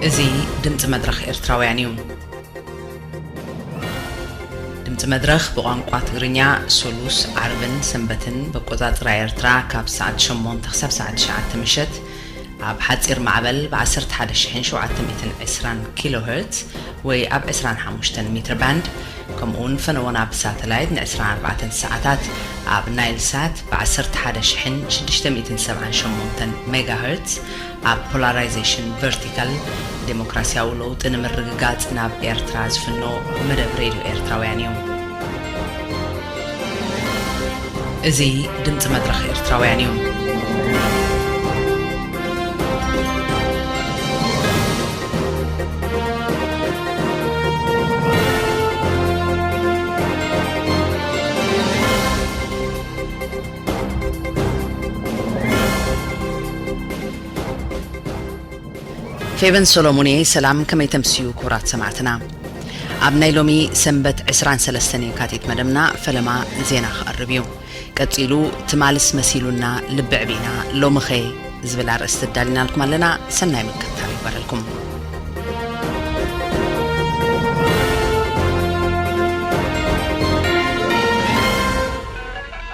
እዚ ድምፂ መድረኽ ኤርትራውያን እዩ። ድምፂ መድረኽ ብቋንቋ ትግርኛ ሶሉስ፣ ዓርብን ሰንበትን በቆፃፅራ ኤርትራ ካብ ሰዓት ሸሞንተ ክሳብ ሰዓት ትሽዓተ ምሸት፣ ኣብ ሓጺር ማዕበል ብ ዓሰርተ ሓደ ሽሕን ሸውዓተ ሚእትን ዕስራን ኪሎ ሄርትዝ ወይ ኣብ ዕስራን ሓሙሽተን ሚትር ባንድ ከምኡውን ፈነወና ብ ሳተላይት ን ዕስራን ኣርባዕተን ሰዓታት ኣብ ናይል ሳት ብ ዓሰርተ ሓደ ሽሕን ሽዱሽተ ሚእትን ሰብዓን ሸሞንተን ሜጋ ሄርትዝ ኣብ ፖላራይዜሽን ቨርቲካል ደሞክራሲያዊ ለውጢ ንምርግጋጽ ናብ ኤርትራ ዝፍኖ መደብ ሬድዮ ኤርትራውያን እዩ። እዚ ድምጺ መድረኽ ኤርትራውያን እዩ። ፌቨን ሰሎሙን እየ ሰላም ከመይ ተምስዩ ክቡራት ሰማዕትና ኣብ ናይ ሎሚ ሰንበት ዕስራን ሰለስተን የካቲት መደብና ፈለማ ዜና ክቐርብ እዩ። ቀጺሉ ትማልስ መሲሉና ልቢ ዕቢና ሎምኸ ዝብል ኣርእስቲ ኣዳሊናልኩም ኣለና። ሰናይ ምክትታል ይግበረልኩም።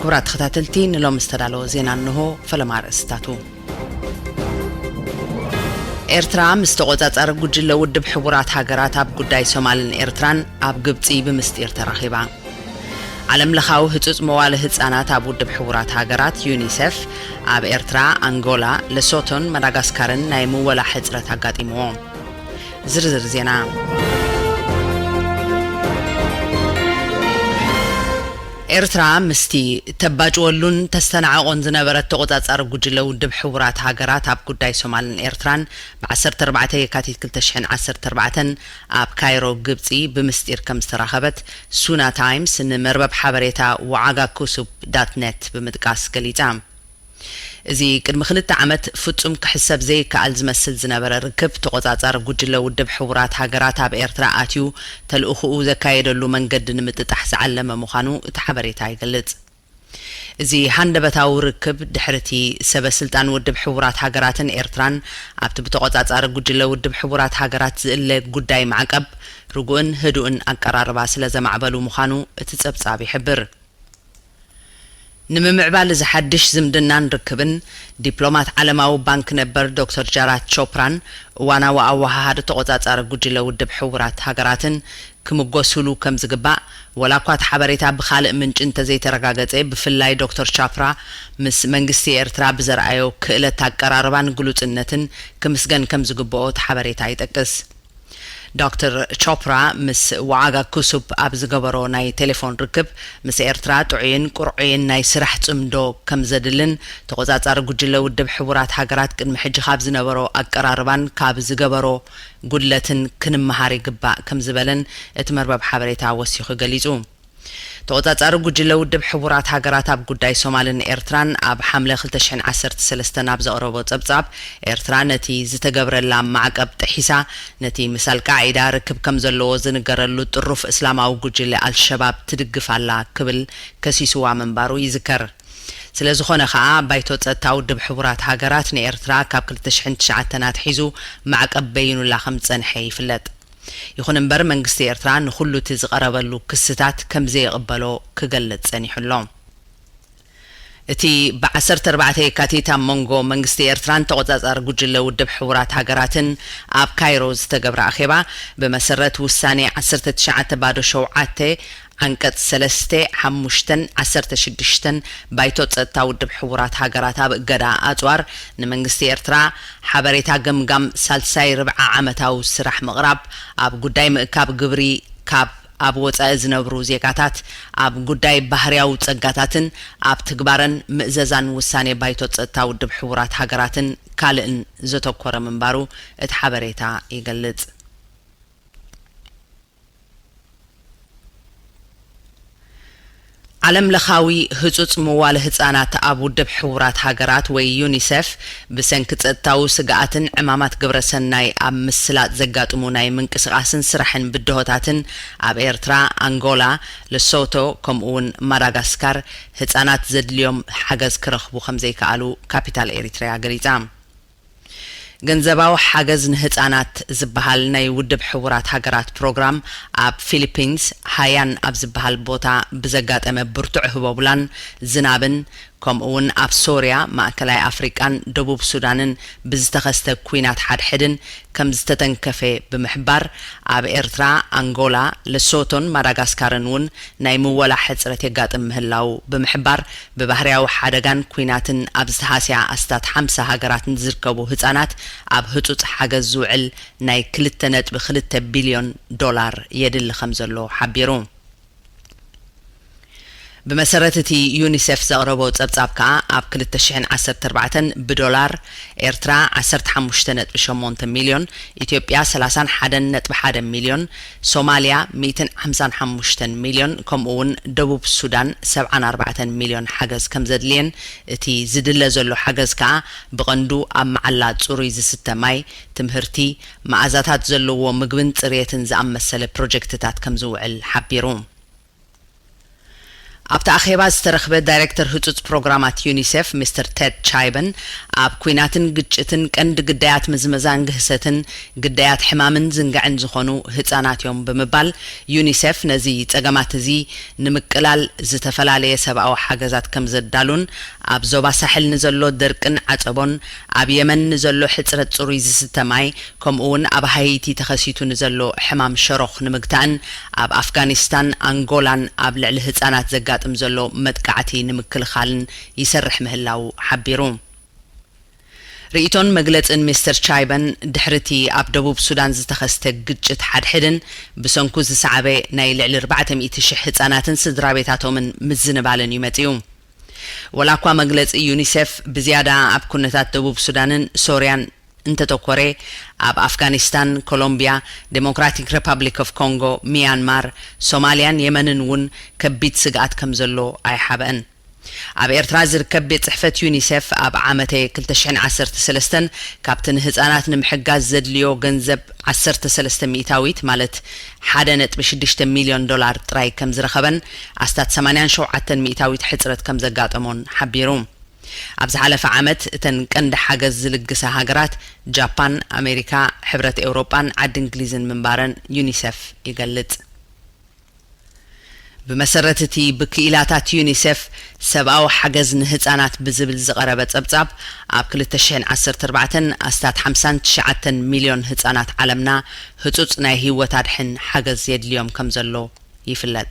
ክቡራት ተኸታተልቲ ንሎሚ ዝተዳለወ ዜና እንሆ ፈለማ ኣርእስትታቱ። ኤርትራ ምስ ተቖጻጻሪ ጉጅለ ውድብ ሕቡራት ሃገራት ኣብ ጉዳይ ሶማልን ኤርትራን ኣብ ግብጺ ብምስጢር ተራኺባ። ዓለም ለኻዊ ህጹጽ መዋለ ህጻናት ኣብ ውድብ ሕቡራት ሃገራት ዩኒሴፍ ኣብ ኤርትራ፣ ኣንጎላ፣ ለሶቶን መዳጋስካርን ናይ ምወላ ሕጽረት ኣጋጢምዎ። ዝርዝር ዜና ኤርትራ ምስቲ ተባጭወሉን ተስተናዕቖን ዝነበረት ተቖጻጻሪ ጉጅለ ውድብ ሕቡራት ሃገራት ኣብ ጉዳይ ሶማልን ኤርትራን ብ ዓሰርተ ኣርባዕተ የካቲት ክልተ ሽሕን ዓሰርተ ኣርባዕተን ኣብ ካይሮ ግብጺ ብምስጢር ከም ዝተራኸበት ሱና ታይምስ ንመርበብ ሓበሬታ ዋዓጋኩሱፕ ዳት ነት ብምጥቃስ ገሊጻ። እዚ ቅድሚ ክልተ ዓመት ፍጹም ክሕሰብ ዘይከኣል ዝመስል ዝነበረ ርክብ፣ ተቖጻጻሪ ጉጅለ ውድብ ሕቡራት ሃገራት ኣብ ኤርትራ ኣትዩ ተልእኾኡ ዘካየደሉ መንገዲ ንምጥጣሕ ዝዓለመ ምዃኑ እቲ ሓበሬታ ይገልጽ። እዚ ሃንደበታዊ ርክብ፣ ድሕሪ'ቲ ሰበ ስልጣን ውድብ ሕቡራት ሃገራትን ኤርትራን ኣብቲ ብተቖጻጻሪ ጉጅለ ውድብ ሕቡራት ሃገራት ዝእለ ጉዳይ ማዕቀብ፣ ርጉእን ህዱእን ኣቀራርባ ስለዘማዕበሉ ምዃኑ እቲ ጸብጻብ ይሕብር። ንምምዕባል እዚ ሓድሽ ዝምድናን ርክብን፣ ዲፕሎማት ዓለማዊ ባንክ ነበር ዶክተር ጃራት ቾፕራን እዋናዊ ኣወሃሃዲ ተቖጻጻሪ ጉጅለ ውድብ ሕቡራት ሃገራትን ክምጎሱሉ ከም ዝግባእ፣ ወላኳ እቲ ሓበሬታ ብኻልእ ምንጪ እንተዘይተረጋገጸ፣ ብፍላይ ዶክተር ቻፕራ ምስ መንግስቲ ኤርትራ ብዘርኣዮ ክእለት ኣቀራርባን ግሉጽነትን ክምስገን ከም ዝግበኦ እቲ ሓበሬታ ይጠቅስ። ዶክተር ቾፕራ ምስ ዋዓጋ ኩሱፕ ኣብ ዝገበሮ ናይ ቴሌፎን ርክብ፣ ምስ ኤርትራ ጥዑይን ቅርዑይን ናይ ስራሕ ጽምዶ ከም ዘድልን፣ ተቖጻጻሪ ጉጅለ ውድብ ሕቡራት ሃገራት ቅድሚ ሕጂ ካብ ዝነበሮ ኣቀራርባን ካብ ዝገበሮ ጉድለትን ክንመሃር ይግባእ ከም ዝበለን እቲ መርበብ ሓበሬታ ወሲኹ ገሊጹ። ተቖጻጻሪ ጉጅለ ውድብ ሕቡራት ሃገራት ኣብ ጉዳይ ሶማልን ኤርትራን ኣብ ሓምለ ክልተ ሽሕን ዓሰርተ ሰለስተን ኣብ ዘቕረቦ ጸብጻብ፣ ኤርትራ ነቲ ዝተገብረላ ማዕቀብ ጥሒሳ ነቲ ምስ ኣልቃዒዳ ርክብ ከም ዘለዎ ዝንገረሉ ጥሩፍ እስላማዊ ጉጅለ ኣልሸባብ ትድግፍ ኣላ ክብል ከሲሱዋ ምንባሩ ይዝከር። ስለዝኾነ ከኣ ባይቶ ጸጥታ ውድብ ሕቡራት ሃገራት ንኤርትራ ካብ ክልተ ሽሕን ትሽዓተን ኣትሒዙ ማዕቀብ በይኑላ ከም ዝጸንሐ ይፍለጥ። ይኹን እምበር መንግስቲ ኤርትራ ንኹሉ እቲ ዝቐረበሉ ክስታት ከምዘይቕበሎ ክገልጽ ጸኒሑ ኣሎ። እቲ ብ ዓሰርተ ኣርባዕተ የካቲት ኣብ መንጎ መንግስቲ ኤርትራን ተቖጻጻሪ ጉጅለ ውድብ ሕቡራት ሃገራትን ኣብ ካይሮ ዝተገብረ ኣኼባ፣ ብመሰረት ውሳኔ ዓሰርተ ትሽዓተ ባዶ ሸውዓተ፣ ዓንቀፅ ሰለስተ፣ ሓሙሽተን ዓሰርተ ሽዱሽተን ባይቶ ፀጥታ ውድብ ሕቡራት ሃገራት ኣብ እገዳ ኣፅዋር ንመንግስቲ ኤርትራ ሓበሬታ ገምጋም ሳልሳይ ርብዐ ዓመታዊ ስራሕ ምቕራብ ኣብ ጉዳይ ምእካብ ግብሪ ካብ ኣብ ወፃኢ ዝነብሩ ዜጋታት ኣብ ጉዳይ ባህርያዊ ፀጋታትን ኣብ ትግባረን ምእዘዛን ውሳኔ ባይቶ ፀጥታ ውድብ ሕቡራት ሃገራትን ካልእን ዘተኮረ ምንባሩ እቲ ሓበሬታ ይገልፅ። ዓለምለኻዊ ህጹጽ ምዋለ ህጻናት ኣብ ውድብ ሕቡራት ሃገራት ወይ ዩኒሰፍ ብሰንኪ ጸጥታዊ ስግኣትን ዕማማት ግብረ ሰናይ ኣብ ምስላጥ ዘጋጥሙ ናይ ምንቅስቓስን ስራሕን ብድሆታትን ኣብ ኤርትራ፣ ኣንጎላ፣ ለሶቶ ከምኡ'ውን ማዳጋስካር ህጻናት ዘድልዮም ሓገዝ ክረኽቡ ከምዘይከኣሉ ካፒታል ኤሪትሪያ ገሊጻ። ገንዘባዊ ሓገዝ ንህጻናት ዝበሃል ናይ ውድብ ሕቡራት ሃገራት ፕሮግራም ኣብ ፊሊፒንስ ሃያን ኣብ ዝበሃል ቦታ ብዘጋጠመ ብርቱዕ ህቦብላን ዝናብን ከምኡ'ውን ኣብ ሶርያ፣ ማእከላይ ኣፍሪቃን ደቡብ ሱዳንን ብዝተኸስተ ኲናት ሓድሕድን ከምዝተተንከፈ ብምሕባር ኣብ ኤርትራ፣ ኣንጎላ፣ ለሶቶን ማዳጋስካርን እውን ናይ ምወላ ሕጽረት የጋጥም ምህላዉ ብምሕባር ብባህርያዊ ሓደጋን ኲናትን ኣብ ዝተሃስያ ኣስታት ሓምሳ ሃገራት ንዝርከቡ ህጻናት ኣብ ህጹጽ ሓገዝ ዝውዕል ናይ ክልተ ነጥቢ ክልተ ቢልዮን ዶላር የድሊ ከምዘሎ ሓቢሩ። ብመሰረት እቲ ዩኒሴፍ ዘቕረቦ ጸብጻብ ከኣ ኣብ ክልተ ሽሕን ዓሰርተ ኣርባዕተን ብዶላር፣ ኤርትራ ዓሰርተ ሓሙሽተ ነጥቢ ሸሞንተ ሚልዮን፣ ኢትዮጵያ ሰላሳን ሓደን ነጥቢ ሓደ ሚልዮን፣ ሶማልያ ሚእትን ሓምሳን ሓሙሽተን ሚልዮን ከምኡ'ውን ደቡብ ሱዳን ሰብዓን ኣርባዕተን ሚልዮን ሓገዝ ከምዘድልየን እቲ ዝድለ ዘሎ ሓገዝ ከኣ ብቐንዱ ኣብ መዓላ ጽሩይ ዝስተ ማይ፣ ትምህርቲ፣ መኣዛታት ዘለዎ ምግብን ጽርየትን ዝኣመሰለ ፕሮጀክትታት ከምዝውዕል ሓቢሩ። ኣብቲ ኣኼባ ዝተረኽበ ዳይሬክተር ህጹጽ ፕሮግራማት ዩኒሴፍ ሚስተር ቴድ ቻይበን፣ ኣብ ኲናትን ግጭትን ቀንዲ ግዳያት ምዝመዛን ግህሰትን ግዳያት ሕማምን ዝንግዕን ዝኾኑ ህጻናት እዮም ብምባል ዩኒሴፍ ነዚ ጸገማት እዚ ንምቅላል ዝተፈላለየ ሰብኣዊ ሓገዛት ከምዘዳሉን ኣብ ዞባ ሳሕል ንዘሎ ደርቅን ዓጸቦን ኣብ የመን ንዘሎ ሕጽረት ጽሩይ ዝስተ ማይ ከምኡ እውን ኣብ ሃይቲ ተኸሲቱ ንዘሎ ሕማም ሸሮኽ ንምግታእን ኣብ ኣፍጋኒስታን ኣንጎላን ኣብ ልዕሊ ህፃናት ዘጋጥም ዘሎ መጥቃዕቲ ንምክልኻልን ይሰርሕ ምህላዉ ሓቢሩ። ርኢቶን መግለፅን ሚስተር ቻይበን ድሕሪ እቲ ኣብ ደቡብ ሱዳን ዝተኸስተ ግጭት ሓድሕድን ብሰንኩ ዝሰዓበ ናይ ልዕሊ ኣርባዕተ ሚእቲ ሽሕ ህፃናትን ስድራቤታቶምን ምዝንባልን እዩ መፂኡ። ወላ እኳ መግለፂ ዩኒሴፍ ብዝያዳ ኣብ ኩነታት ደቡብ ሱዳንን ሶርያን እንተተኮረ ኣብ ኣፍጋኒስታን፣ ኮሎምቢያ፣ ደሞክራቲክ ረፓብሊክ ኦፍ ኮንጎ፣ ሚያንማር፣ ሶማሊያን የመንን እውን ከቢድ ስግኣት ከምዘሎ ኣይሓበእን። ኣብ ኤርትራ ዝርከብ ቤት ጽሕፈት ዩኒሴፍ ኣብ ዓመተ ክልተ ሽሕን ዓሰርተ ሰለስተን ካብቲ ንህጻናት ንምሕጋዝ ዘድልዮ ገንዘብ ዓሰርተ ሰለስተ ሚእታዊት ማለት ሓደ ነጥቢ ሽዱሽተ ሚልዮን ዶላር ጥራይ ከምዝረኸበን ኣስታት ሰማንያን ሸውዓተን ሚእታዊት ሕጽረት ከምዘጋጠሞን ሓቢሩ። ኣብ ዝሓለፈ ዓመት እተን ቀንዲ ሓገዝ ዝልግሳ ሃገራት ጃፓን፣ ኣሜሪካ፣ ሕብረት ኤውሮጳን ዓዲ እንግሊዝን ምንባረን ዩኒሰፍ ይገልጽ። ብመሰረት እቲ ብክኢላታት ዩኒሴፍ ሰብኣዊ ሓገዝ ንህጻናት ብዝብል ዝቐረበ ጸብጻብ፣ ኣብ ክልተ ሽሕን ዓሰርተ ኣርባዕተን ኣስታት ሓምሳን ትሽዓተን ሚልዮን ህጻናት ዓለምና ህጹጽ ናይ ህይወት ኣድሕን ሓገዝ የድልዮም ከምዘሎ ይፍለጥ።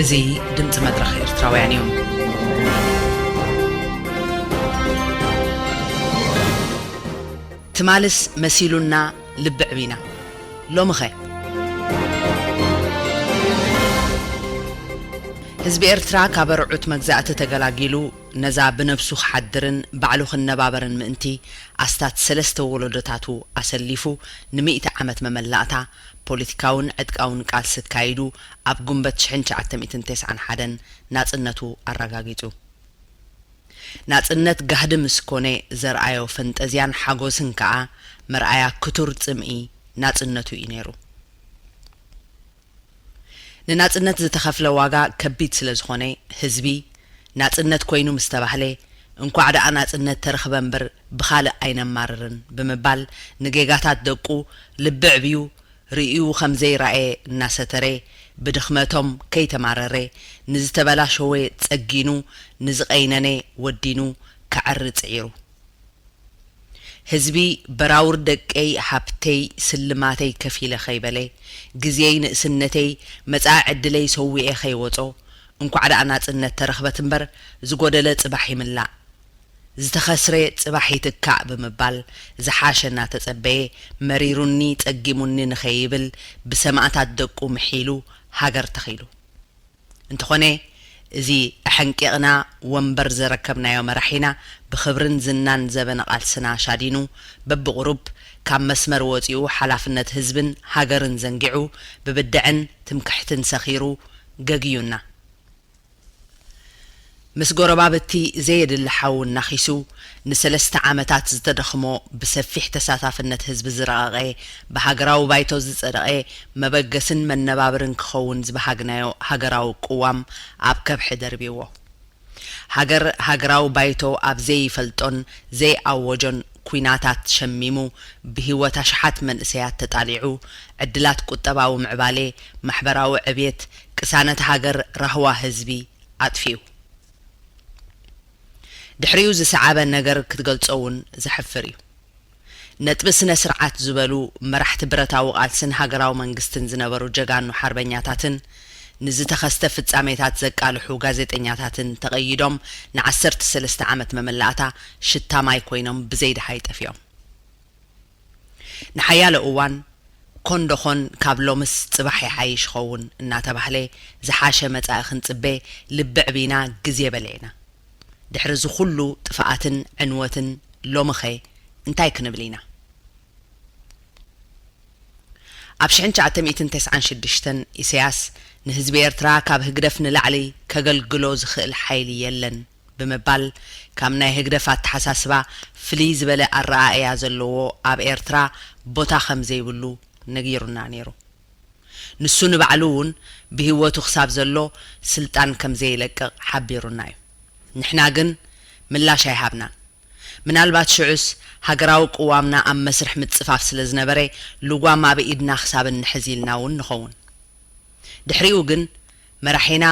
እዚ ድምጺ መድረኽ ኤርትራውያን እዩ። ትማልስ መሲሉና ልቢ ዕቢና ሎምኸ? ህዝቢ ኤርትራ ካብ ኣርዑት መግዛእቲ ተገላጊሉ ነዛ ብነብሱ ክሓድርን ባዕሉ ክነባበርን ምእንቲ ኣስታት ሰለስተ ወሎዶታቱ ኣሰሊፉ ንሚእቲ ዓመት መመላእታ ፖሊቲካውን ዕጥቃውን ቃልሲ ኣካይዱ ኣብ ጉንበት ሽሕን ትሽዓተ ሚእትን ተስዓን ሓደን ናጽነቱ ኣራጋጊጹ። ናጽነት ጋህዲ ምስ ኮነ ዘርኣዮ ፈንጠዝያን ሓጎስን ከኣ መርኣያ ክቱር ጽምኢ ናጽነቱ ኢዩ ነይሩ። ንናጽነት ዝተኸፍለ ዋጋ ከቢድ ስለ ዝኾነ ህዝቢ ናጽነት ኮይኑ ምስ ተባህለ፣ እንኳዕ ደኣ ናጽነት ተረኽበ እምበር ብኻልእ ኣይነማርርን ብምባል ንጌጋታት ደቁ ልቢ ኣዕብዩ ርእዩ ከም ዘይረኣየ እናሰተረ ብድኽመቶም ከይተማረረ ንዝተበላሸወ ጸጊኑ ንዝቐይነነ ወዲኑ ከዐሪ ጽዒሩ። ህዝቢ በራውር ደቀይ ሃብተይ ስልማተይ ከፊለ ከይበለ ግዜይ ንእስነተይ መጻኢ ዕድለይ ሰዊኤ ከይወጾ እንኳዕ ደኣ ናጽነት ተረኽበት እምበር ዝጎደለ ጽባሕ ይምላእ ዝተኸስረ ጽባሕ ይትካእ ብምባል ዝሓሸ እናተጸበየ መሪሩኒ ጸጊሙኒ ንከይብል ብሰማእታት ደቁ ምሒሉ ሃገር ተኺሉ እንተኾነ እዚ ኣሐንቂቕና ወንበር ዘረከብናዮ መራሒና ብኽብርን ዝናን ዘበነ ቃልስና ሻዲኑ በብቑሩብ ካብ መስመር ወጺኡ ሓላፍነት ህዝብን ሃገርን ዘንጊዑ ብብድዐን ትምክሕትን ሰኺሩ ገግዩና ምስ ጎረባብቲ ዘየድሊ ሓው እናኺሱ ንሰለስተ ዓመታት ዝተደኽሞ ብሰፊሕ ተሳታፍነት ህዝቢ ዝረቐቐ ብሃገራዊ ባይቶ ዝጸደቐ መበገስን መነባብርን ክኸውን ዝበሃግናዮ ሃገራዊ ቅዋም ኣብ ከብሒ ደርቢዎ ሃገር ሃገራዊ ባይቶ ኣብ ዘይፈልጦን ዘይኣወጆን ኩናታት ሸሚሙ ብሂወት ኣሽሓት መንእሰያት ተጣሊዑ ዕድላት ቁጠባዊ ምዕባሌ ማሕበራዊ ዕብየት ቅሳነት ሃገር ራህዋ ህዝቢ ኣጥፊኡ ድሕሪኡ ዝሰዓበ ነገር ክትገልጾ እውን ዘሕፍር እዩ። ነጥቢ ስነ ስርዓት ዝበሉ መራሕቲ ብረታዊ ቃልስን ሃገራዊ መንግስትን ዝነበሩ ጀጋኑ ሓርበኛታትን ንዝተኸስተ ፍጻሜታት ዘቃልሑ ጋዜጠኛታትን ተቐይዶም ንዓሰርተ ሰለስተ ዓመት መመላእታ ሽታ ማይ ኮይኖም ብዘይ ደሃይ ጠፊኦም። ንሓያሎ እዋን ኮንዶኾን ካብ ሎምስ ጽባሕ ይሓይሽ ኸውን እናተባህለ ዝሓሸ መጻኢ ክንጽበ ልቢዕቢና ግዜ በሊዕና። ድሕሪ እዚ ኩሉ ጥፋኣትን ዕንወትን ሎምኸ እንታይ ክንብል ኢና? ኣብ ሽሕን ትሽዓተ ሚእትን ተስዓን ሽዱሽተን ኢሰያስ ንህዝቢ ኤርትራ ካብ ህግደፍ ንላዕሊ ከገልግሎ ዝኽእል ሓይሊ የለን፣ ብምባል ካብ ናይ ህግደፍ ኣተሓሳስባ ፍልይ ዝበለ ኣረኣእያ ዘለዎ ኣብ ኤርትራ ቦታ ከም ዘይብሉ ነጊሩና ነይሩ። ንሱ ንባዕሉ እውን ብህይወቱ ክሳብ ዘሎ ስልጣን ከም ዘይለቅቕ ሓቢሩና እዩ። ንሕና ግን ምላሽ ኣይሃብናን። ምናልባት ሽዑስ ሃገራዊ ቅዋምና ኣብ መስርሕ ምጽፋፍ ስለ ዝነበረ ልጓም ኣብ ኢድና ክሳብ እንሕዝ ኢልና እውን ንኸውን። ድሕሪኡ ግን መራሒና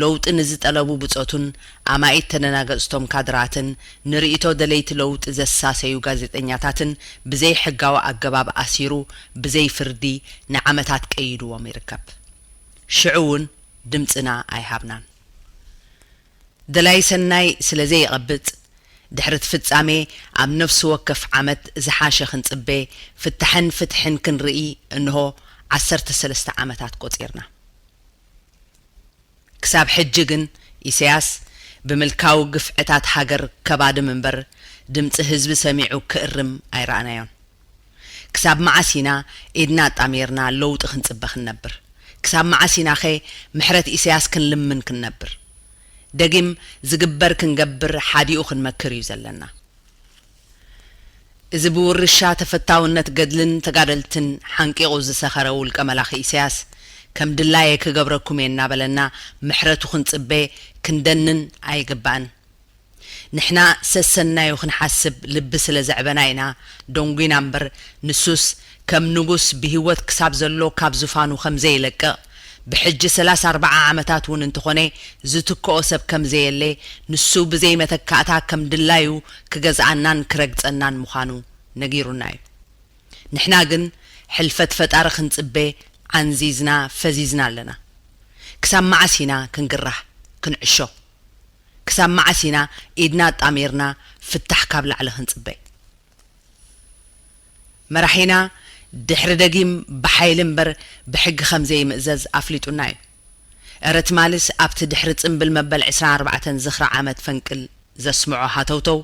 ለውጢ ንዝጠለቡ ብጾቱን ኣማኢት ተደናገጽቶም ካድራትን ንርእይቶ ደለይቲ ለውጢ ዘሳሰዩ ጋዜጠኛታትን ብዘይ ሕጋዊ ኣገባብ ኣሲሩ ብዘይ ፍርዲ ንዓመታት ቀይድዎም ይርከብ። ሽዑ ውን ድምጽና ኣይሃብናን። ደላይ ሰናይ ስለ ዘይቐብጽ ድሕሪ'ቲ ፍጻሜ ኣብ ነፍሲ ወከፍ ዓመት ዝሓሸ ክንጽበ ፍታሕን ፍትሕን ክንርኢ እንሆ ዓሰርተ ሰለስተ ዓመታት ቆጺርና። ክሳብ ሕጂ ግን ኢሰያስ ብምልካዊ ግፍዕታት ሃገር ከባድም እምበር ድምጺ ህዝቢ ሰሚዑ ክእርም ኣይረኣናዮን። ክሳብ መዓስ ኢና ኢድና ኣጣሚርና ለውጢ ክንጽበ ክንነብር? ክሳብ መዓስ ኢናኸ ምሕረት ኢሰያስ ክንልምን ክንነብር? ደጊም ዝግበር ክንገብር ሓዲኡ ክንመክር እዩ ዘለና። እዚ ብውርሻ ተፈታውነት ገድልን ተጋደልትን ሓንቂቑ ዝሰኸረ ውልቀ መላኺ ኢሰያስ፣ ከም ድላየ ክገብረኩም እየ እናበለና ምሕረቱ ክንጽበ ክንደንን ኣይግባእን። ንሕና ሰሰናዩ ክንሓስብ ልቢ ስለ ዘዕበና ኢና ደንጒና እምበር፣ ንሱስ ከም ንጉስ ብህይወት ክሳብ ዘሎ ካብ ዙፋኑ ከም ዘይለቅቕ፣ ብሕጂ ሰላሳ ኣርባዓ ዓመታት ውን እንተኾነ ዝትክኦ ሰብ ከምዘየለ ንሱ ብዘይ መተካእታ ከም ድላዩ ክገዝኣናን ክረግጸናን ምዃኑ ነጊሩና ዩ ንሕና ግን ሕልፈት ፈጣሪ ክንጽበ ዓንዚዝና ፈዚዝና ኣለና ክሳብ መዓስ ኢና ክንግራህ ክንዕሾ ክሳብ መዓስ ኢና ኢድና ኣጣሚርና ፍታሕ ካብ ላዕሊ ክንጽበ መራሒና ድሕሪ ደጊም ብሓይሊ እምበር ብሕጊ ከም ዘይምእዘዝ ኣፍሊጡና እዩ። እረ ትማሊስ ኣብቲ ድሕሪ ጽምብል መበል ዕስራን ኣርባዕተን ዝኽሪ ዓመት ፈንቅል ዘስምዖ ሃተውተው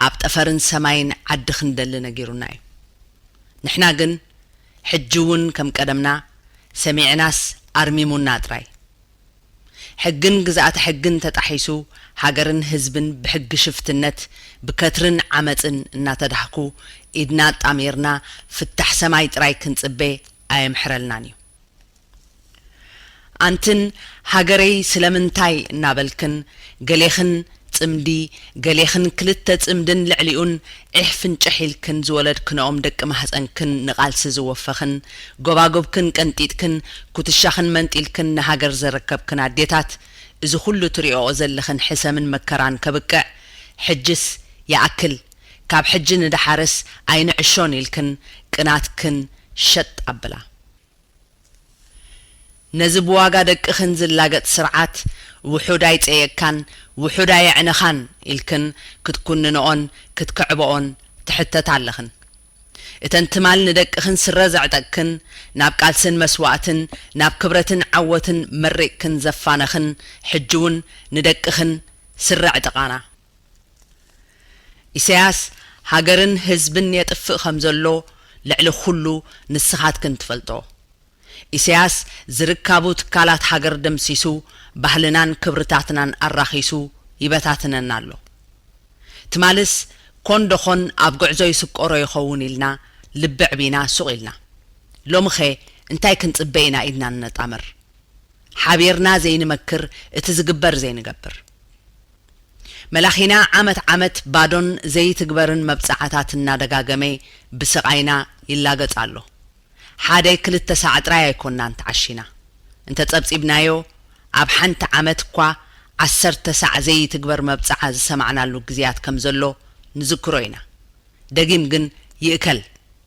ኣብ ጠፈርን ሰማይን ዓዲ ክንደሊ ነጊሩና እዩ። ንሕና ግን ሕጂ'ውን ከም ቀደምና ሰሚዕናስ ኣርሚሙና ጥራይ። ሕግን ግዝኣተ ሕግን ተጣሒሱ ሃገርን ህዝብን ብሕጊ ሽፍትነት ብከትርን ዓመጽን እናተዳህኩ ኢድና ኣጣሚርና ፍታሕ ሰማይ ጥራይ ክንጽበ ኣየምሕረልናን እዩ። ኣንትን ሃገረይ ስለምንታይ እናበልክን ገሌኽን ጽምዲ ገሌኽን ክልተ ጽምድን ልዕሊኡን ዒሕ ፍንጭሕ ኢልክን ዝወለድክንኦም ደቂ ማህጸንክን ንቓልሲ ዝወፈኽን ጎባጉብክን ቀንጢጥክን ኩትሻኽን መንጢልክን ንሃገር ዘረከብክን ኣዴታት እዚ ኩሉ ትሪኦኦ ዘለኽን ሕሰምን መከራን ከብቅዕ ሕጅስ ይኣክል ካብ ሕጂ ንደሓርስ ኣይንዕሾን ኢልክን ቅናትክን ሸጥ ኣብላ ነዚ ብዋጋ ደቅኽን ዝላገጽ ስርዓት ውሑድ ኣይጸየቅካን ውሑድ ኣየዕነኻን ኢልክን ክትኩንንኦን ክትክዕበኦን ትሕተታ ኣለኽን። እተን ትማል ንደቅኽን ስረ ዘዕጠቅክን ናብ ቃልስን መስዋእትን ናብ ክብረትን ዓወትን መሪቅክን ዘፋነኽን ሕጂውን ንደቅኽን ስረ ኣዕጥቃና። ኢሰያስ ሃገርን ህዝብን የጥፍእ ከም ዘሎ ልዕሊ ኩሉ ንስኻትክን ትፈልጦ ኢሰያስ ዝርካቡ ትካላት ሃገር ደምሲሱ ባህልናን ክብርታትናን ኣራኺሱ ይበታትነና ኣሎ ትማልስ ኮን ዶኾን ኣብ ጉዕዞ ይስቆሮ ይኸውን ኢልና ልቢ ዕቢና ሱቕ ኢልና ሎምኸ እንታይ ክንጽበ ኢና ኢድና ንነጣምር ሓቢርና ዘይንመክር እቲ ዝግበር ዘይንገብር መላኺና ዓመት ዓመት ባዶን ዘይትግበርን መብጽዓታት እናደጋገመ ብስቓይና ይላገጽ ኣሎ። ሓደ ክልተ ሳዕ ጥራይ ኣይኮናን ተዓሺና። እንተ ጸብጺብናዮ ኣብ ሓንቲ ዓመት እኳ ዓሰርተ ሳዕ ዘይትግበር መብጽዓ ዝሰማዕናሉ ግዜያት ከም ዘሎ ንዝክሮ ኢና። ደጊም ግን ይእከል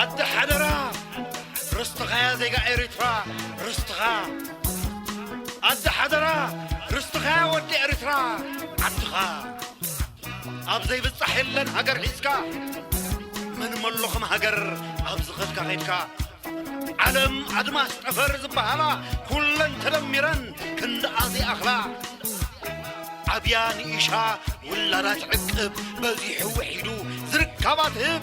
ኣደ ሓደራ ርስትኻያ ዜጋ ኤሪትራ ርስትኻ ኣደ ሓደራ ርስትኻያ ወዲ ኤሪትራ ዓድኻ ኣብ ዘይብጻሕ የለን ሃገር ሒዝካ ምን መሎኹም ሃገር ኣብ ዝኸድካ ኸድካ ዓለም ኣድማስ ጠፈር ዝበሃላ ኩለን ተደሚረን ክንደኣዚ ኣኽላ ዓብያ ንኢሻ ውላዳ ትዕቅብ በዚሑ ውሒዱ ዝርካባ ትህብ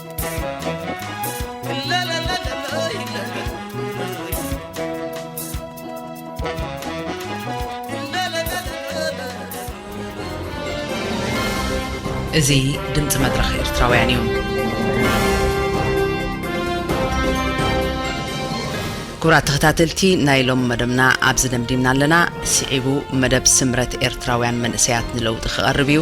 እዚ ድምፂ መድረኽ ኤርትራውያን እዩ። ክቡራት ተኸታተልቲ ናይ ሎም መደብና ኣብዚ ደምዲምና ኣለና። ስዒቡ መደብ ስምረት ኤርትራውያን መንእሰያት ንለውጢ ክቐርብ እዩ።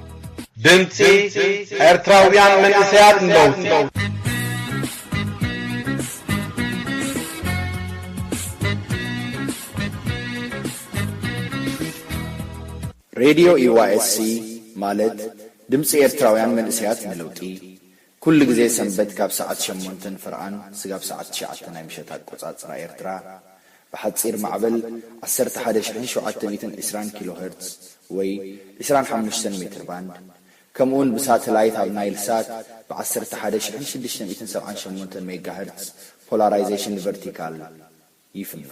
ድምጺ ኤርትራውያን መንእሰያት ንለውጢ ሬድዮ ኢዋኤስሲ ማለት ድምጺ ኤርትራውያን መንእሰያት ንለውጢ ኩሉ ግዜ ሰንበት ካብ ሰዓት ሸሞንተን ፍርቓን ስጋብ ሰዓት ትሽዓተ ናይ ምሸት ኣቆጻጽራ ኤርትራ፣ ብሓጺር ማዕበል ዓሰርተ ሓደ ሽሕን ሸውዓተ ሚእትን ዕስራን ኪሎ ሀርትዝ ወይ ዕስራን ሓሙሽተን ሜትር ባንድ፣ ከምኡ'ውን ብሳተላይት ኣብ ናይል ሳት ብ ዓሰርተ ሓደ ሽሕን ሽዱሽተ ሚእትን ሰብዓን ሸሞንተን ሜጋ ሀርትዝ፣ ፖላራይዘሽን ቨርቲካል፣ ይፍኖ።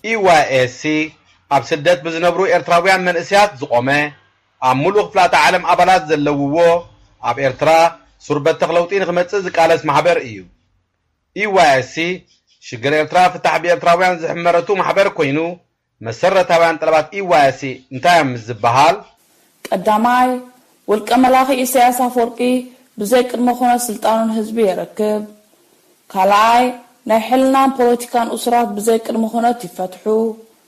EYSC ኣብ ስደት ብዝነብሩ ኤርትራውያን መንእሰያት ዝቖመ፣ ኣብ ምሉእ ክፍላተ ዓለም ኣባላት ዘለውዎ፣ ኣብ ኤርትራ ሱር በተኽ ለውጢ ንኽመጽእ ዝቃለስ ማሕበር እዩ። EYSC ሽግር ኤርትራ ፍታሕ ብኤርትራውያን ዝሕመረቱ ማሕበር ኮይኑ፣ መሰረታውያን ጠለባት EYSC እንታይ እዮም ምስ ዝበሃል? ቀዳማይ፣ ውልቀ መላኺ ኢሳያስ ኣፍወርቂ ብዘይ ቅድመ ኩነት ስልጣኑ ንህዝቢ የረክብ። ካልኣይ፣ ናይ ሕልናን ፖለቲካን እሱራት ብዘይ ቅድመ ኩነት ይፈትሑ።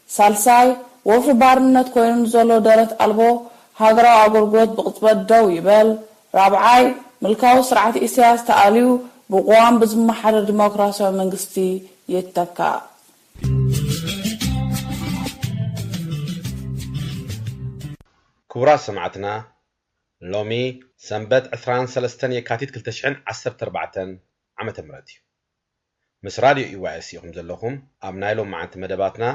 ሳልሳይ፣ ወፍሪ ባርነት ኮይኑ ንዘሎ ደረት ኣልቦ ሃገራዊ ኣገልግሎት ብቕጽበት ደው ይበል። ራብዓይ፣ ምልካዊ ስርዓት ኢሳያስ ተኣልዩ ብቕዋም ብዝመሓደር ዲሞክራሲያዊ መንግስቲ ይተካእ። ክቡራት ሰማዕትና ሎሚ ሰንበት ዕስራን ሰለስተን የካቲት ክልተ ሽሕን ዓሰርተ ኣርባዕተን ዓመተ ምህረት እዩ። ምስ ራድዮ ኢዋኤስ ኢኹም ዘለኹም። ኣብ ናይ ሎማዓንቲ መደባትና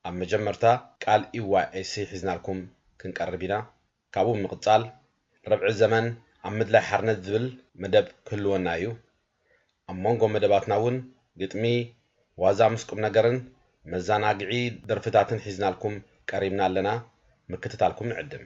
ኣብ መጀመርታ ቃል ኢዋኤስ ሒዝናልኩም ክንቀርብ ኢና። ካብኡ ብምቕጻል ርብዒ ዘመን ኣብ ምድላይ ሓርነት ዝብል መደብ ክህልወና እዩ። ኣብ ሞንጎ መደባትና እውን ግጥሚ፣ ዋዛ ምስ ቁምነገርን መዛናግዒ ደርፍታትን ሒዝናልኩም ቀሪብና ኣለና። ምክትታልኩም ንዕድም።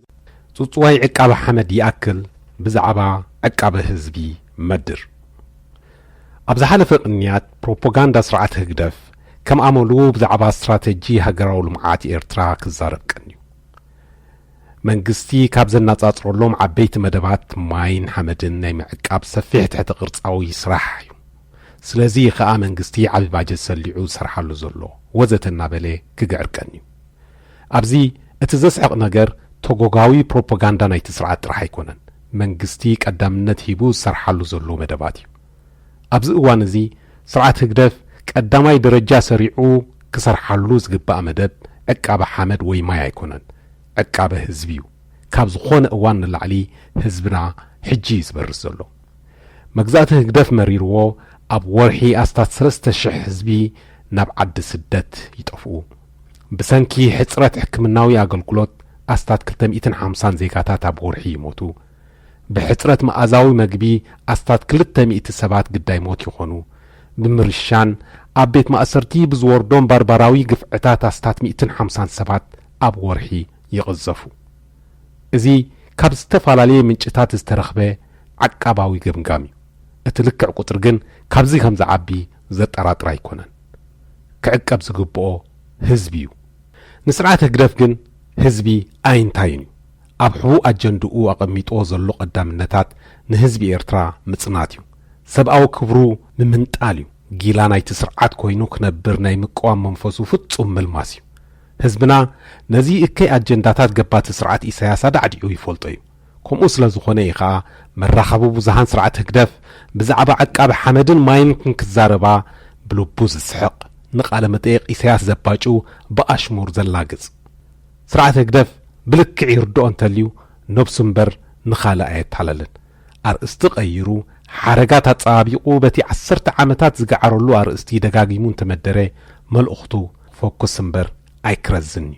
ጽጽዋይ ዕቃበ ሓመድ ይኣክል ብዛዕባ ዕቃበ ህዝቢ መድር። ኣብ ዝሓለፈ ቅንያት ፕሮፖጋንዳ ስርዓት ህግደፍ ከም ኣመሉ ብዛዕባ ስትራተጂ ሃገራዊ ልምዓት ኤርትራ ክዛረብ ቀንዩ። መንግስቲ ካብ ዘናጻጽረሎም ዓበይቲ መደባት ማይን ሓመድን ናይ ምዕቃብ ሰፊሕ ትሕተ ቅርጻዊ ስራሕ እዩ። ስለዚ እዩ ከኣ መንግስቲ ዓቢ ባጀት ሰሊዑ ዝሰርሓሉ ዘሎ ወዘተ እናበለ ክግዕር ቀንዩ። ኣብዚ እቲ ዘስሕቕ ነገር ተጎጋዊ ፕሮፖጋንዳ ናይቲ ስርዓት ጥራሕ ኣይኮነን መንግስቲ ቀዳምነት ሂቡ ዝሰርሓሉ ዘሎ መደባት እዩ። ኣብዚ እዋን እዚ ስርዓት ህግደፍ ቀዳማይ ደረጃ ሰሪዑ ክሰርሓሉ ዝግባእ መደብ ዕቃበ ሓመድ ወይ ማይ ኣይኮነን ዕቃበ ህዝቢ እዩ። ካብ ዝኾነ እዋን ንላዕሊ ህዝብና ሕጂ እዩ ዝበርስ ዘሎ። መግዛእቲ ህግደፍ መሪርዎ ኣብ ወርሒ ኣስታት ሰለስተ ሽሕ ህዝቢ ናብ ዓዲ ስደት ይጠፍኡ። ብሰንኪ ሕጽረት ሕክምናዊ ኣገልግሎት ኣስታት ክልተ ሚእትን ሓምሳን ዜጋታት ኣብ ወርሒ ይሞቱ። ብሕጽረት መኣዛዊ መግቢ ኣስታት ክልተ ሚእቲ ሰባት ግዳይ ሞት ይኾኑ። ብምርሻን ኣብ ቤት ማእሰርቲ ብዝወርዶም ባርባራዊ ግፍዕታት ኣስታት ሚእትን ሓምሳን ሰባት ኣብ ወርሒ ይቕዘፉ። እዚ ካብ ዝተፈላለየ ምንጭታት ዝተረኽበ ዓቃባዊ ገምጋም እዩ። እቲ ልክዕ ቁጽሪ ግን ካብዚ ከም ዝዓቢ ዘጠራጥር ኣይኮነን። ክዕቀብ ዝግብኦ ህዝቢ እዩ። ንስርዓት ህግደፍ ግን ህዝቢ ኣይንታይን እዩ። ኣብ ሕቡእ ኣጀንድኡ ኣቐሚጥዎ ዘሎ ቀዳምነታት ንህዝቢ ኤርትራ ምጽናት እዩ። ሰብኣዊ ክብሩ ምምንጣል እዩ። ጊላ ናይቲ ስርዓት ኮይኑ ክነብር ናይ ምቅዋም መንፈሱ ፍጹም ምልማስ እዩ። ህዝብና ነዚ እከይ ኣጀንዳታት ገባቲ ስርዓት ኢሳያስ ኣዳዕዲዑ ይፈልጦ እዩ። ከምኡ ስለ ዝኾነ እዩ ከኣ መራኸቢ ብዙሃን ስርዓት ህግደፍ ብዛዕባ ዓቃቢ ሓመድን ማይን ክንክዛረባ ብልቡ ዝስሕቕ ንቃለ መጠየቕ ኢሰያስ ዘባጭው ብኣሽሙር ዘላግጽ። ስርዓት ህግደፍ ብልክዕ ይርድኦ እንተልዩ ነብሱ እምበር ንኻልእ ኣየታለልን። ኣርእስቲ ቀይሩ ሓረጋት ኣጸባቢቑ በቲ ዓሰርተ ዓመታት ዝገዓረሉ ኣርእስቲ ደጋጊሙ እንተመደረ መልእኽቱ ፎኩስ እምበር ኣይክረዝን'ዩ።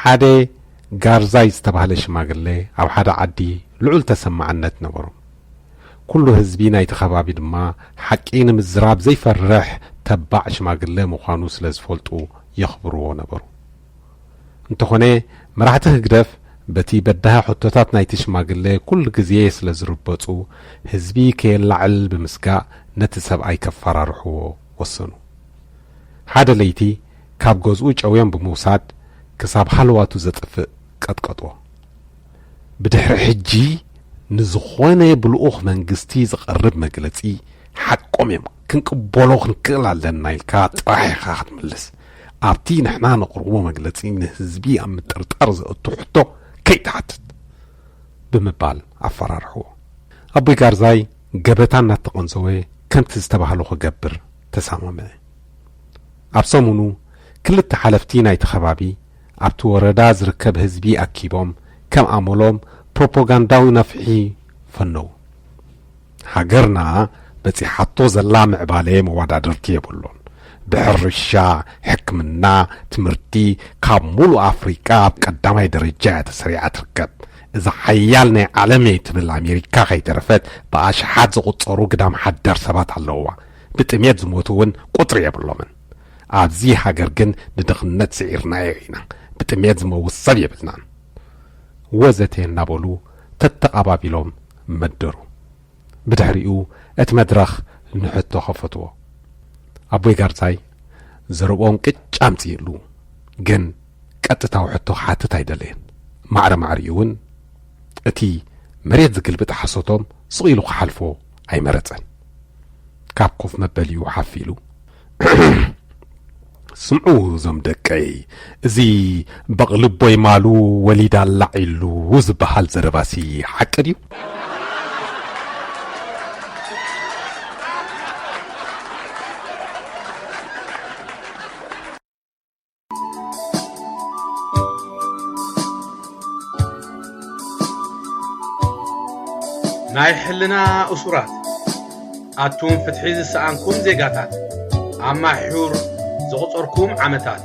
ሓደ ጋርዛይ ዝተባህለ ሽማግለ ኣብ ሓደ ዓዲ ልዑል ተሰማዕነት ነበሩ ኩሉ ህዝቢ ናይቲ ከባቢ ድማ ሓቂ ንምዝራብ ዘይፈርሕ ተባዕ ሽማግለ ምዃኑ ስለ ዝፈልጡ የኽብርዎ ነበሩ እንተኾነ መራሕቲ ህግደፍ በቲ በዳሂ ሕቶታት ናይቲ ሽማግለ ኩሉ ግዜ ስለ ዝርበጹ ህዝቢ ከየላዕል ብምስጋእ ነቲ ሰብኣይ ከፈራርሕዎ ወሰኑ። ሓደ ለይቲ ካብ ገዝኡ ጨውዮም ብምውሳድ ክሳብ ሃለዋቱ ዘጥፍእ ቀጥቀጥዎ። ብድሕሪ ሕጂ ንዝኾነ ብልኡኽ መንግስቲ ዝቐርብ መግለጺ ሓቆም እዮም ክንቅበሎ ክንክእል ኣለና ኢልካ ጥራሕ ኢኻ ክትምልስ። ኣብቲ ንሕና ነቕርቦ መግለጺ ንህዝቢ ኣብ ምጥርጣር ዘእቱ ሕቶ ከይትሓትት ብምባል ኣፈራርሕዎ። ኣቦይ ጋርዛይ ገበታ እናተቐንዘወ ከምቲ ዝተባህሎ ክገብር ተሰማምዐ። ኣብ ሰሙኑ ክልተ ሓለፍቲ ናይቲ ከባቢ ኣብቲ ወረዳ ዝርከብ ህዝቢ ኣኪቦም ከም ኣመሎም ፕሮፓጋንዳዊ ነፍሒ ፈነዉ። ሃገርና በጺሓቶ ዘላ ምዕባለ መወዳድርቲ የብሉን። ብሕርሻ፣ ሕክምና፣ ትምህርቲ ካብ ሙሉእ ኣፍሪቃ ኣብ ቀዳማይ ደረጃ እያ ተሰሪዓ ትርከብ። እዛ ሓያል ናይ ዓለም እየ ትብል ኣሜሪካ ከይተረፈት ብኣሽሓት ዝቑጸሩ ግዳም ሓደር ሰባት ኣለውዋ። ብጥሜት ዝሞቱ እውን ቁጽሪ የብሎምን። ኣብዚ ሃገር ግን ንድኽነት ስዒርናዮ ኢና። ብጥሜት ዝመውት ሰብ የብልናን። ወዘተ እናበሉ ተተቓባቢሎም መደሩ። ብድሕሪኡ እቲ መድረኽ ንሕቶ ከፈትዎ። ኣቦይ ጋርዛይ ዘረብኦም ቅጭ ኣምጺኡሉ፣ ግን ቀጥታዊ ሕቶ ክሓትት ኣይደለየን። ማዕረ ማዕሪኡውን እቲ መሬት ዝግልብጥ ሓሶቶም ስቕ ኢሉ ክሓልፎ ኣይመረጸን። ካብ ኮፍ መበሊኡ ሓፍ ኢሉ ስምዑ እዞም ደቀይ እዚ በቕልቦይ ማሉ ወሊዳ ኣላዕ ኢሉ ዝበሃል ዘረባሲ ሓቂ ድዩ? ናይ ሕልና እሱራት ኣቱም ፍትሒ ዝሰኣንኩም ዜጋታት ኣብ ማሕዩር ዘቑፀርኩም ዓመታት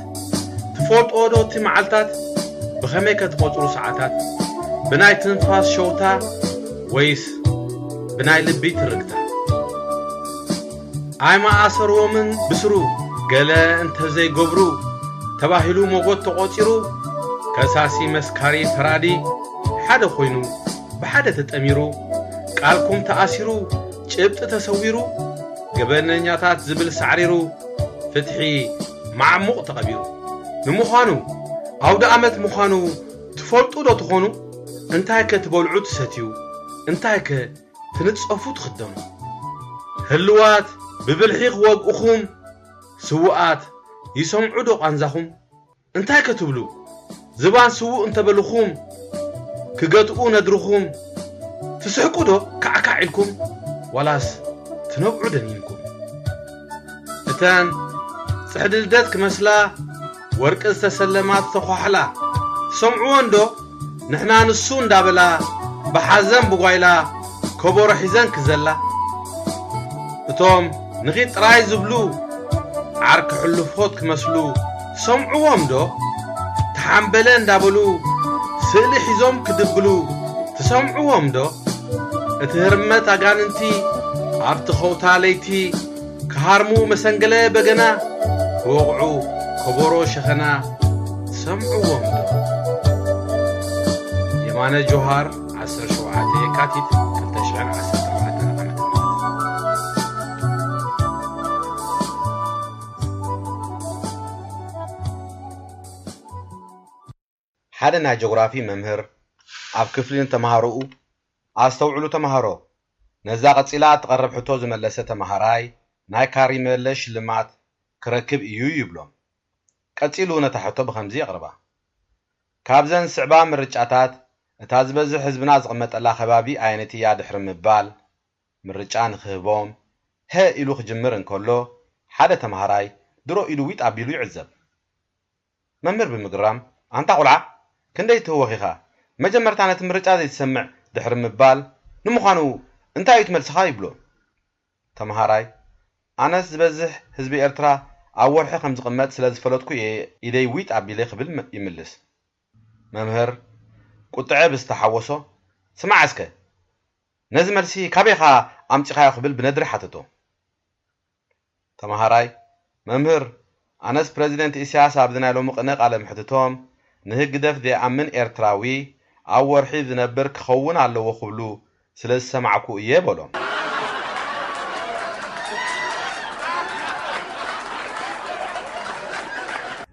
ትፈልጦ ዶ እቲ መዓልታት ብኸመይ ከትቖፅሩ ሰዓታት ብናይ ትንፋስ ሸውታ ወይስ ብናይ ልቢ ትርግታ ኣይምኣሰርዎምን ብስሩ ገለ እንተዘይገብሩ ተባሂሉ ሞጎት ተቖጺሩ ከሳሲ መስካሪ ፈራዲ ሓደ ኮይኑ ብሓደ ተጠሚሩ ቃልኩም ተኣሲሩ ጭብጢ ተሰዊሩ ገበነኛታት ዝብል ሳዕሪሩ ፍትሒ ማዕሙቕ ተቐቢሩ ንምዃኑ ኣውደኣመት ምዃኑ ትፈልጡ ዶ ትኾኑ እንታይከ ትበልዑ ትሰትዩ እንታይከ ትንጸፉ ትኽደኑ ህልዋት ብብልሒ ክወግኡኹም ስውኣት ይሰምዑ ዶ ቃንዛኹም እንታይ ከ ትብሉ ዝባን ስውእ እንተ በሉኹም ክገትኡ ነድርኹም ትስሕቁ ዶ ካዕካዕ ኢልኩም ዋላስ ትነብዑ ደኒንኩም እተን ጽሕዲ ልደት ክመስላ ወርቂ ዝተሰለማ ዝተዃሕላ ትሰምዕወን ዶ ንሕና ንሱ እንዳበላ ብሓዘን ብጓይላ ከበሮ ሒዘን ክዘላ እቶም ንኺድ ጥራይ ዝብሉ ዓርኪ ሕሉፎት ክመስሉ ትሰምዕዎም ዶ ተሓምበለ እንዳበሉ ስእሊ ሒዞም ክድብሉ ትሰምዕዎም ዶ እቲ ህርመት ኣጋንንቲ ኣብቲ ኸውታ ለይቲ ክሃርሙ መሰንገለ በገና ክወቕዑ ከበሮ ሸኸና ትሰምዕዎም ዶ የማነ ጆሃር 17 የካቲት 2014 Thank you. ሓደ ናይ ጆግራፊ መምህር ኣብ ክፍሊ ንተመሃሮኡ፣ ኣስተውዕሉ ተመሃሮ፣ ነዛ ቀጺላ እትቐርብ ሕቶ ዝመለሰ ተመሃራይ ናይ ካሪመለ ሽልማት ክረክብ እዩ ይብሎም። ቀጺሉ ነታ ሕቶ ብኸምዚ የቕርባ፣ ካብዘን ዝስዕባ ምርጫታት እታ ዝበዝሕ ህዝብና ዝቕመጠላ ከባቢ ኣየነይቲ እያ ድሕሪ ምባል፣ ምርጫ ንኽህቦም፣ ሀ ኢሉ ክጅምር እንከሎ፣ ሓደ ተመሃራይ ድሮ ኢዱ ዊጥ ኣቢሉ ይዕዘብ። መምህር ብምግራም፣ ኣንታ ቁልዓ ክንደይ ትህወኽ ኢኻ መጀመርታ ነቲ ምርጫ ዘይትሰምዕ ድሕሪ ምባል፣ ንምዃኑ እንታይ እዩ እቲ መልስኻ ይብሎ። ተምሃራይ፣ ኣነስ ዝበዝሕ ህዝቢ ኤርትራ ኣብ ወርሒ ከም ዝቕመጥ ስለ ዝፈለጥኩ እየ ኢደይ ዊጥ ኣቢለ ክብል ይምልስ። መምህር ቁጥዐ ብዝተሓወሶ፣ ስማዕ እስከ ነዚ መልሲ ካበይኻ ኣምጺኻዮ ክብል ብነድሪ ሓተቶ። ተማሃራይ፣ መምህር፣ ኣነስ ፕረዚደንት ኢሳያስ ኣብዚ ናይ ሎሚ ቅነ ቃለ መሕትቶም፣ ንህግደፍ ዘይኣምን ኤርትራዊ ኣብ ወርሒ ዝነብር ክኸውን ኣለዎ ክብሉ ስለ ዝሰማዕኩ እየ በሎም።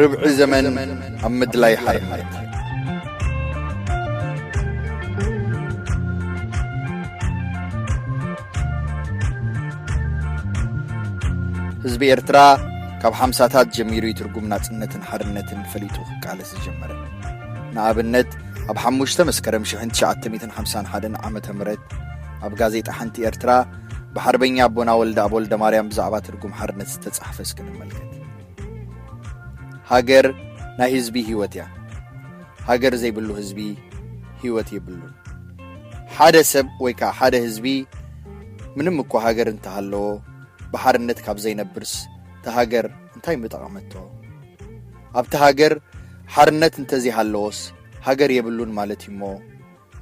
ርብዒ ዘመን ኣብ ምድላይ ሓርነት ህዝቢ ኤርትራ ካብ ሓምሳታት ጀሚሩ ይትርጉም ናጽነትን ሓርነትን ፈሊጡ ክቃለስ ዝጀመረ ንኣብነት ኣብ ሓሙሽተ መስከረም 1951 ዓ ም ኣብ ጋዜጣ ሓንቲ ኤርትራ ብሓርበኛ ኣቦና ወልደኣብ ወልደማርያም ብዛዕባ ትርጉም ሓርነት ዝተጻሕፈ እስኪ ንመልከት ሃገር ናይ ህዝቢ ህይወት እያ ሃገር ዘይብሉ ህዝቢ ህይወት የብሉን ሓደ ሰብ ወይ ከዓ ሓደ ህዝቢ ምንም እኳ ሃገር እንተሃለዎ ብሓርነት ካብ ዘይነብርስ እቲ ሃገር እንታይ ምጠቐመቶ ኣብቲ ሃገር ሓርነት እንተዘይሃለዎስ ሃገር የብሉን ማለት እዩ እሞ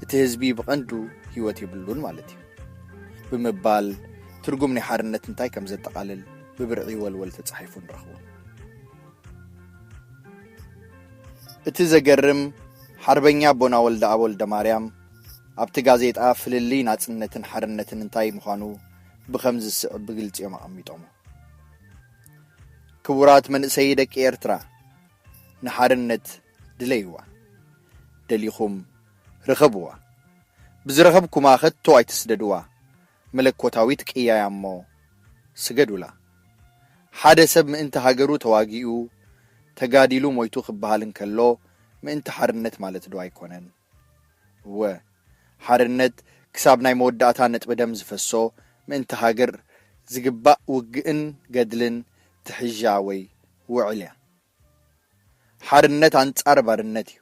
እቲ ህዝቢ ብቐንዱ ህይወት የብሉን ማለት እዩ ብምባል ትርጉም ናይ ሓርነት እንታይ ከም ዘጠቓልል ብብርዒ ወልወል ተጻሒፉ ንረኽቦ እቲ ዘገርም ሓርበኛ ኣቦና ወልደ ኣብ ወልደ ማርያም ኣብቲ ጋዜጣ ፍልልይ ናጽነትን ሓርነትን እንታይ ምዃኑ ብኸምዚ ዝስዕብ ብግልጺ እዮም ኣቐሚጦሞ ክቡራት መንእሰይ ደቂ ኤርትራ ንሓርነት ድለይዋ ደሊኹም ርኸብዋ ብዝረኸብኩማ ከቶ ኣይትስደድዋ መለኮታዊት ቅያ'ያ እሞ ስገዱላ ሓደ ሰብ ምእንቲ ሃገሩ ተዋጊኡ ተጋዲሉ ሞይቱ ክበሃል እንከሎ ምእንቲ ሓርነት ማለት ዶ ኣይኮነን እወ ሓርነት ክሳብ ናይ መወዳእታ ነጥቢ ደም ዝፈሶ ምእንቲ ሃገር ዝግባእ ውግእን ገድልን ትሕዣ ወይ ውዕል'ያ ሓርነት ኣንጻር ባርነት እዩ።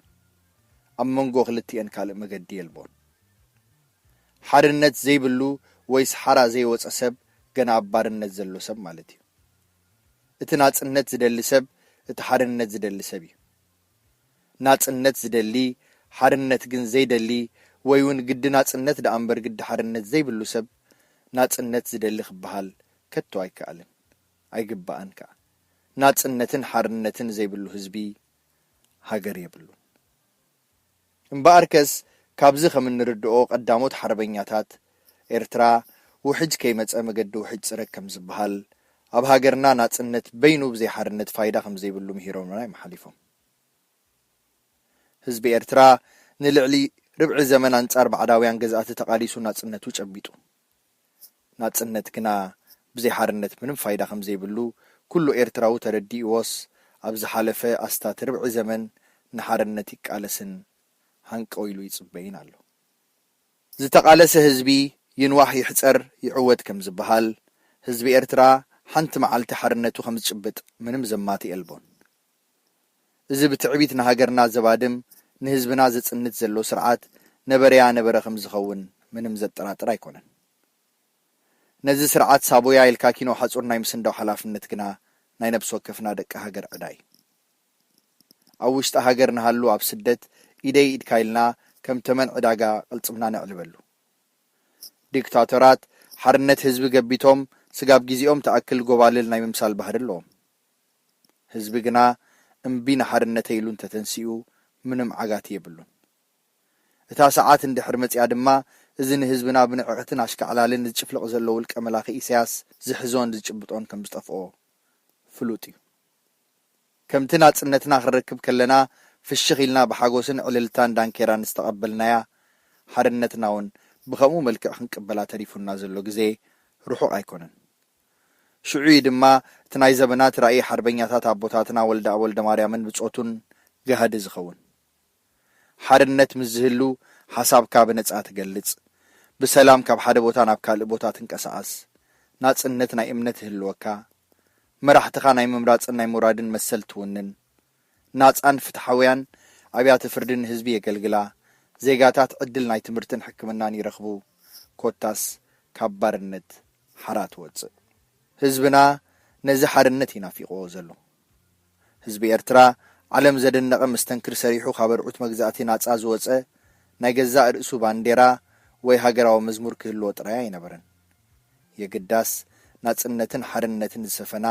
ኣብ መንጎ ክልቲኤን ካልእ መገዲ የልቦን። ሓርነት ዘይብሉ ወይስ ሓራ ዘይወጸ ሰብ ገና ኣብ ባርነት ዘሎ ሰብ ማለት እዩ። እቲ ናጽነት ዝደሊ ሰብ እቲ ሓርነት ዝደሊ ሰብ እዩ። ናጽነት ዝደሊ ሓርነት ግን ዘይደሊ ወይ ውን ግዲ ናጽነት ደኣ እምበር ግዲ ሓርነት ዘይብሉ ሰብ ናጽነት ዝደሊ ክበሃል ከቶ ኣይከኣልን። ኣይግባእን ከኣ። ናጽነትን ሓርነትን ዘይብሉ ህዝቢ ሃገር የብሉን። እምበኣርከስ ካብዚ ከም እንርድኦ ቀዳሞት ሓርበኛታት ኤርትራ ውሕጅ ከይመጸ መገዲ ውሕጅ ጽረግ ከም ዝበሃል፣ ኣብ ሃገርና ናጽነት በይኑ ብዘይ ሓርነት ፋይዳ ከም ዘይብሉ ምሂሮምና እዮም ሓሊፎም። ህዝቢ ኤርትራ ንልዕሊ ርብዒ ዘመን ኣንጻር ባዕዳውያን ገዛእቲ ተቓሊሱ ናጽነቱ ጨቢጡ። ናጽነት ግና ብዘይ ሓርነት ምንም ፋይዳ ከምዘይብሉ ኩሉ ኤርትራዊ ተረዲእዎስ ኣብ ዝሓለፈ ኣስታት ርብዒ ዘመን ንሓርነት ይቃለስን ሃንቀው ኢሉ ይጽበይን ኣሎ። ዝተቓለሰ ህዝቢ ይንዋሕ ይሕጸር ይዕወት ከምዝበሃል፣ ህዝቢ ኤርትራ ሓንቲ መዓልቲ ሓርነቱ ከምዝጭብጥ ምንም ዘማትእ የልቦን። እዚ ብትዕቢት ንሃገርና ዘባድም ንህዝብና ዘጽንት ዘሎ ስርዓት ነበረያ ነበረ ከምዝኸውን ምንም ዘጠራጥር ኣይኮነን። ነዚ ስርዓት ሳቦያ ኢልካ ኪኖ ሓጹር ናይ ምስንዳው ሓላፍነት ግና ናይ ነብሲ ወከፍና ደቂ ሃገር ዕዳ እዩ። ኣብ ውሽጢ ሃገር ንሃሉ ኣብ ስደት ኢደይ ኢድካ ኢልና ከም ተመን ዕዳጋ ቅልጽምና ነዕልበሉ። ዲክታቶራት ሓርነት ህዝቢ ገቢቶም ስጋብ ጊዚኦም ትኣክል ጎባልል ናይ ምምሳል ባህሪ ኣለዎም። ህዝቢ ግና እምቢ ንሓርነተይ ኢሉ እንተተንሲኡ ምንም ዓጋቲ የብሉን። እታ ሰዓት እንድሕር መጺኣ ድማ እዚ ንህዝብና ብንዕቕትን ኣሽካዕላልን ዝጭፍልቕ ዘሎ ውልቀ መላኺ ኢሳያስ ዝሕዞን ዝጭብጦን ከም ዝጠፍኦ ፍሉጥ እዩ። ከምቲ ናጽነትና ክንረክብ ከለና ፍሽኽ ኢልና ብሓጎስን ዕልልታን ዳንኬራን ዝተቐበልናያ ሓርነትናውን ብኸምኡ መልክዕ ክንቅበላ ተሪፉና ዘሎ ግዜ ርሑቕ ኣይኮነን። ሽዑ'ዩ ድማ እቲ ናይ ዘበናት ራኢ ሓርበኛታት ኣቦታትና ወልደኣብ ወልደማርያምን ብጾቱን ጋህዲ ዝኸውን። ሓርነት ምስ ዝህሉ ሓሳብካ ብነጻ ትገልጽ፣ ብሰላም ካብ ሓደ ቦታ ናብ ካልእ ቦታ ትንቀሳቐስ፣ ናጽነት ናይ እምነት ይህልወካ፣ መራሕትኻ ናይ ምምራጽን ናይ ምውራድን መሰል ትውንን፣ ናጻን ፍትሓውያን ኣብያተ ፍርዲ ንህዝቢ የገልግላ፣ ዜጋታት ዕድል ናይ ትምህርትን ሕክምናን ይረኽቡ፣ ኮታስ ካብ ባርነት ሓራ ትወጽእ። ህዝብና ነዚ ሓርነት እዩ ናፊቕዎ ዘሎ። ህዝቢ ኤርትራ ዓለም ዘደነቐ መስተንክር ሰሪሑ ካብ ኣርዑት መግዛእቲ ናጻ ዝወጸ ናይ ገዛእ ርእሱ ባንዴራ ወይ ሃገራዊ መዝሙር ክህልዎ ጥራይ ኣይነበረን። የግዳስ፣ ናጽነትን ሓርነትን ዝሰፈና፣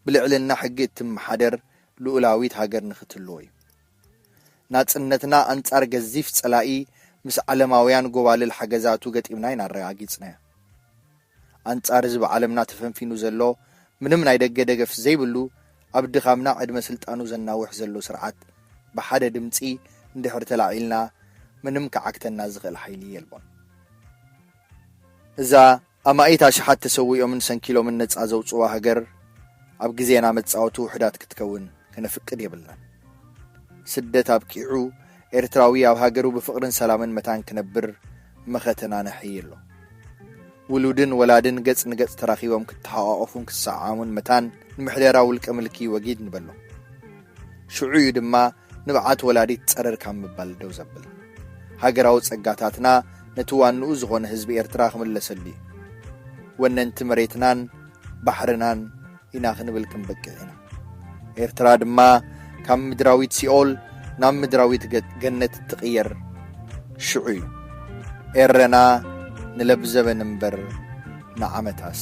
ብልዕልና ሕጊ እትመሓደር ልኡላዊት ሃገር ንኽትህልዎ እዩ። ናጽነትና ኣንጻር ገዚፍ ጸላኢ ምስ ዓለማውያን ጎባልል ሓገዛቱ ገጢምና ኢና ኣረጋጊጽናዮ። ኣንጻር እዚ ብዓለምና ተፈንፊኑ ዘሎ ምንም ናይ ደገ ደገፍ ዘይብሉ ኣብ ድኻምና ዕድመ ስልጣኑ ዘናውሕ ዘሎ ስርዓት ብሓደ ድምጺ እንድሕር ተላዒልና ምንም ክዓግተና ዝኽእል ሓይሊ የልቦን። እዛ ኣማኢት ኣሽሓት ተሰዊኦምን ሰንኪሎምን ነጻ ዘውጽዋ ሃገር ኣብ ግዜና መጻወቲ ውሑዳት ክትከውን ከነፍቅድ የብልናን። ስደት ኣብቂዑ ኤርትራዊ ኣብ ሃገሩ ብፍቕርን ሰላምን መታን ክነብር መኸተና ነሐዪ ኣሎ። ውሉድን ወላድን ገጽ ንገጽ ተራኺቦም ክተሓቛቖፉን ክሰዓዓሙን መታን ንምሕደራ ውልቀ ምልኪ ወጊድ ንበሎ። ሽዑ እዩ ድማ ንብዓት ወላዲት ጸረር ካብ ምባል ደው ዘብል፣ ሃገራዊ ጸጋታትና ነቲ ዋንኡ ዝኾነ ህዝቢ ኤርትራ ክምለሰሉ እዩ። ወነንቲ መሬትናን ባሕርናን ኢና ክንብል ክንበቅዕ ኢና። ኤርትራ ድማ ካብ ምድራዊት ሲኦል ናብ ምድራዊት ገነት እትቕየር ሽዑ እዩ። ኤረና ንለብዘበን እምበር ንዓመታስ!